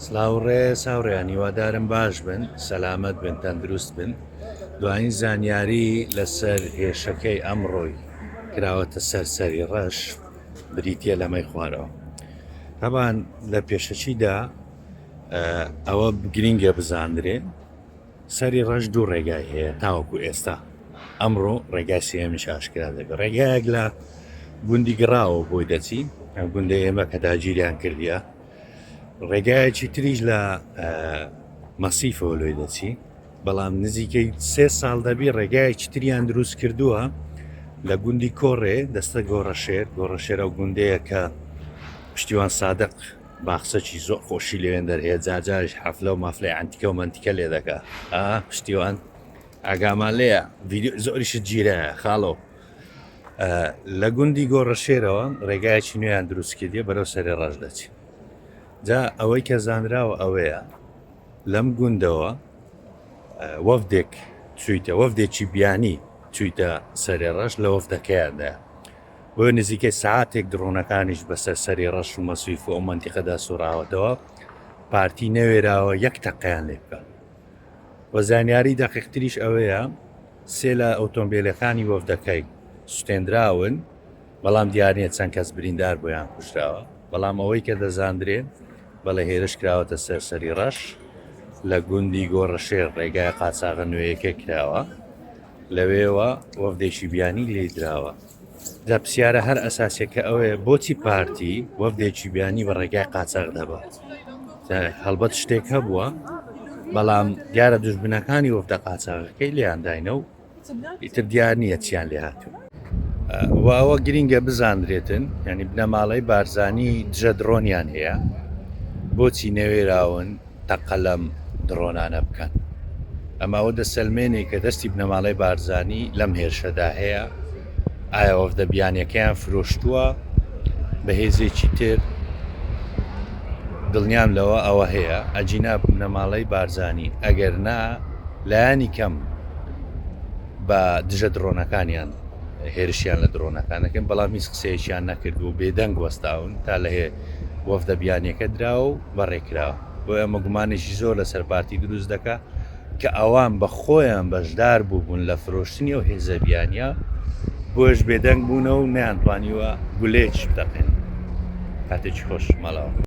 سڵاو ڕێز هاوڕێیان هیوادارم باش بن سەلامەت بن تەندروست بن دوایین زانیاری لەسەر هێشەکەی ئەمڕۆی کراوەتە سەرسەری ڕەش بریتە لەمەی خوارەوە تابان لە پێشەچیدا ئەوە گرینگە بزانرێ سەری ڕەش دوو ڕێگای هەیە تاوەکو ئێستا ئەمڕۆ ڕێگای سێمیش ئاشکرا دەبێت ڕێگایەک لە گوندی گڕاوە بۆی دەچین گوندە ئێمە کە داگیریان کردە ڕێگایەکی تریش لە مەسیفەوە لۆی دەچی بەڵام نزیکەی سێ ساڵ دەبی ڕێگایەکی تریان دروست کردووە لە گوندی کۆڕێ دەستە گۆڕەشێر گۆڕەشێرە و گوندەیە کە پشتیوان سادق باخسەکی زۆر خۆشی لەوێن دەرهەیە جاجاش حەفلە و مافلەی ئەنتیکە و منتیکە لێ دەکە پشتیوان ئاگامان لەیە زۆریشت گیرە خاڵەوە لە گوندی گۆڕەشێرەوە ڕێگایەکی نوێیان دروستکردیە بەرەو سەرێ ڕەش دەچی جا ئەوەی کە زانراوە ئەوەیە لەم گوندەوە وەفدێک چویتە وەفدێکی بیانی چویتە سەرێ ڕەش لە وەفدەکەیاندا بۆ نزیکە ساعتێک دڕۆنەکانیش بەسەر سەری ڕەش و مەسویف و ئەو منتیقەدا سوڕاوەتەوە پارتی نەوێراوە یەک تەقیان لێ بکە و زانیاری دەقیقتریش ئەوەیە سێ لە ئۆتۆمبێلەکانی وەفدەکەی سوتێندراون، بەڵام دیارنیە چەند کەس بریندار بوو یان کوژراوە، بەڵام ئەوەی کە دەزاندرێت بەڵێ هێرش کراوەتە سەر سەری ڕەش لە گوندی گۆڕەشێر ڕێگای قاچاغە نوێیەکە کراوە لەوێوە وەفدێکی بیانی لێدراوە. جا پسیارە هەر ئەساسیەکە ئەوەیە بۆچی پارتی وەفدێکی بیانی بە ڕێگای قاچاق دەبا هەڵبەت شتێک هەبووە بەڵام دیارە دژبنەکانی وەفدە قاچاقەکەی لێیانداینە و ئیتر دیار نییە چیان لێ هاتوو واوە گرینگە بزانرێتن ینی بنەماڵەی بارزانی دژە درۆنیان هەیە بۆچی نەوێراون تەقە لەم دڕۆنانە بکەن. ئەمە ئەوە دەسەلمێنێ کە دەستی بنەماڵەی بارزانی لەم هێرشەدا هەیە. ئایا وەفدە بیانیەکەیان فرۆشتووە بە هێزێکی تر؟ دڵنیام لەوە ئەوە هەیە، ئەگینا بنەماڵەی بارزانین، ئەگەر نا لایەنی کەم بە دژە دڕۆنەکانیان هێرشیان لە دڕۆنەکان دەکەن، بەڵام هیچ قسەیەکیان نەکردووە و بێدەنگ وەستاون تا لە وەفدە بیانیەکە دراوە و بەڕێ کراوە بۆیە ئەمە گومانێکی زۆر لەسەر پارتی دروست دەکات کە ئەوان بە خۆیان بەشدار بووبوون لە فرۆشتنی ئەو هێزە بیانیە بۆیش بێدەنگ بوونەوە و نەیانتوانیوە گولەیەکیش بتەقێنن کاتێکی خۆش ماڵەوە.